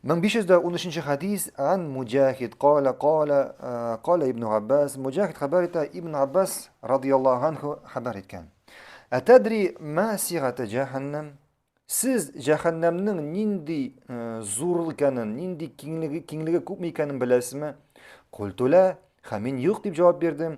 Мең биш йөз дә унөченче хәдис ан Муҗахид кала кала кала Ибн Габбас Муҗахид хәбәр итә Ибн Габбас радияллаһу анху хәбәр иткән. Әтәдри ма сигаты җәһәннәм Сез җәһәннәмнең нинди э, зур икәнен, нинди киңлеге, киңлеге күпме икәнен беләсезме? Культула, һәм мин юк дип җавап бирдем.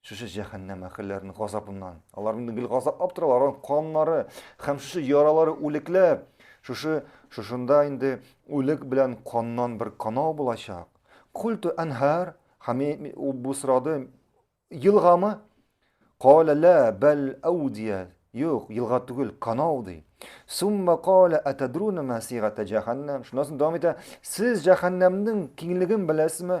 Шушы җәһәннәм әһелләренең газабыннан, аларның гел газаплап торалар, аларның каннары һәм шушы яралары үлекләп, шушы шушында инде үлек белән каннан бер канау булачак. Культу анһар, һәм ул бу сорады, елгамы? Кала ла бәл аудия, юк, елга түгел, канау ди. Сумма кала атадруна масигата җәһәннәм. Шуннан соң дәвам итә, сез җәһәннәмнең киңлеген беләсезме?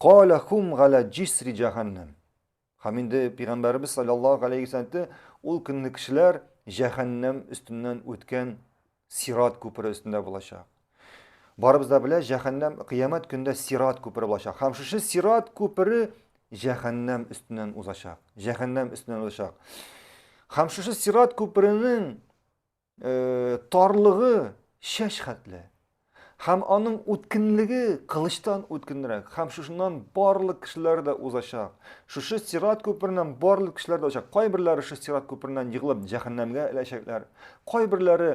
Кала хум гала джисри джаханнам. Һәм инде Пигамбарыбыз саллаллаху алейхи сәләте ул көнне кешеләр җәһәннәм өстеннән үткән сират күпере өстендә булачак. Барыбыз да белә, җәһәннәм кыямәт көндә сират күпере булачак. Һәм шушы сират күпере җәһәннәм өстеннән узачак. Җәһәннәм өстеннән узачак. Һәм шушы сират күперенең тарлыгы чәч хәтле һәм аның үткенлеге кылычтан үткенрәк һәм шушыннан барлык кешеләр дә узачак шушы сират күпереннән барлык кешеләр дә очак кайберләре шушы сират күпереннән егылып җәһәннәмгә эләчәкләр кайберләре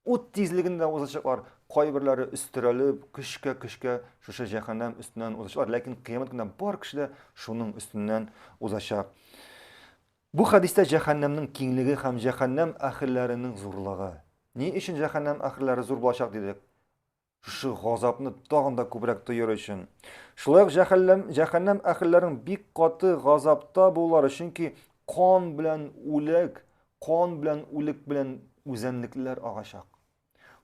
ут тизлегендә узачаклар кайберләре өстерәлеп көчкә көчкә шушы җәһәннәм өстеннән узачаклар ләкин кыямәт көнендә бар кеше дә шуның өстеннән узачак Бу хәдистә җәһәннәмнең киңлеге һәм җәһәннәм әһелләренең зурлыгы. Ни өчен җәһәннәм әһелләре зур булачак дидек? Шушы газапны тагын да күбрәк тоер өчен. Шулай ук җәһәлләм, җәһәннәм әһелләренең бик каты газапта булулары, чөнки кан белән үлек, кан белән үлек белән үзәнлекләр агачак.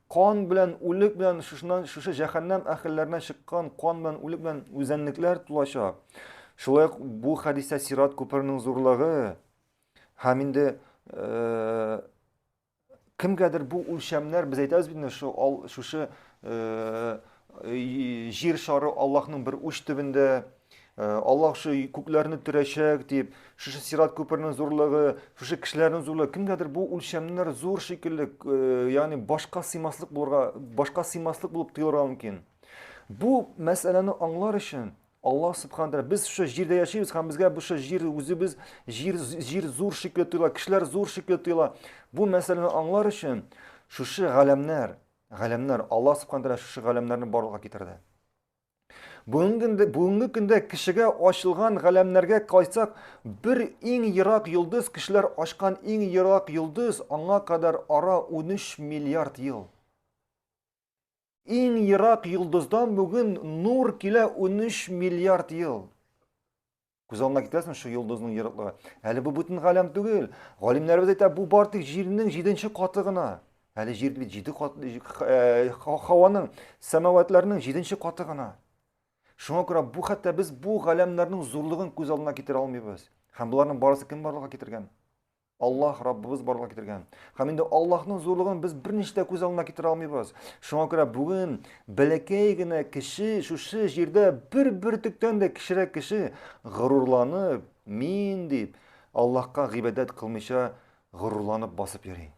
Кан белән, үлек белән, шушынан, шушы җәһәннәм әхелләренә чыккан кан белән, үлек белән үзәнлекләр тулачак. Шулай ук бу хәдистә сират күперенең зурлыгы һәм инде э, кемгәдер бу үлчәмнәр без әйтәбез бит инде шу ал шушы э, җир шары Аллаһның бер уч төбендә Э, Аллаһ шушы күкләрне төрәчәк дип, шушы сират күпернең зурлыгы, шушы кешеләрнең зурлыгы, кемгәдер бу үлчәмнәр зур шикелле, э, ягъни башка сыймаслык булырга, башка сыймаслык булып тоелырга мөмкин. Бу мәсьәләне аңлар өчен Аллаһ субханә тәгалә без шушы җирдә яшибез һәм безгә бу шушы җир үзебез җир җир зур шикелле тоела, кешеләр зур шикелле тоела. Бу мәсьәләне аңлар өчен шушы галәмнәр, галәмнәр Аллаһ субханә тәгалә шушы галәмнәрне барлыкка китерде. Бүгенге, бүгенге көндә кешегә ачылган галәмнәргә кайсак, бер иң ерак йолдыз, кешеләр ачкан иң ерак йолдыз, аңа кадәр ара 13 миллиард ел. Иң ерак йолдыздан бүген нур килә 13 миллиард ел. Күз алдына китерәсең шул йолдызның ераклыгы. Әле бу бөтен галәм түгел. Галимнәребез әйтә, бу бар тик җирнең җиденче каты гына. Әле җир бит җиде кат э, һаваның, сәмаватларның җиденче каты гына. Шуңа күрә бу хәтта без бу галәмнәрнең зурлыгын күз алдына китерә алмыйбыз. Һәм боларның барысы кем барлыкка китергән? Аллаһ Раббыбыз барлыкка китергән. Һәм инде Аллаһның зурлыгын без берничә дә күз алдына китерә алмыйбыз. Шуңа күрә бүген бәләкәй генә кеше шушы җирдә бер бөртектән дә кечерәк кеше горурланып, мин дип Аллаһка гыйбадәт кылмыйча горурланып басып йөри.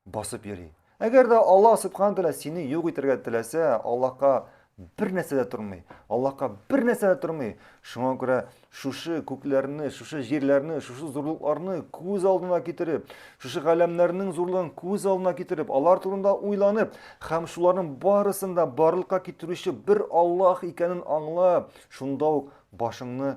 басып йөри. Әгәр дә Аллаһ Субхаһу Тәгалә сине юк итәргә теләсә, Аллаһка бер нәрсә дә тормый. Аллаһка бер нәрсә дә тормый. Шуңа күрә шушы күкләрне, шушы җирләрне, шушы зурлыкларны күз алдына китереп, шушы галәмнәрнең зурлыгын күз алдына китереп, алар турында уйланып, һәм шуларның барысын да барлыкка китерүче бер Аллаһ икәнен аңлап, шунда ук башыңны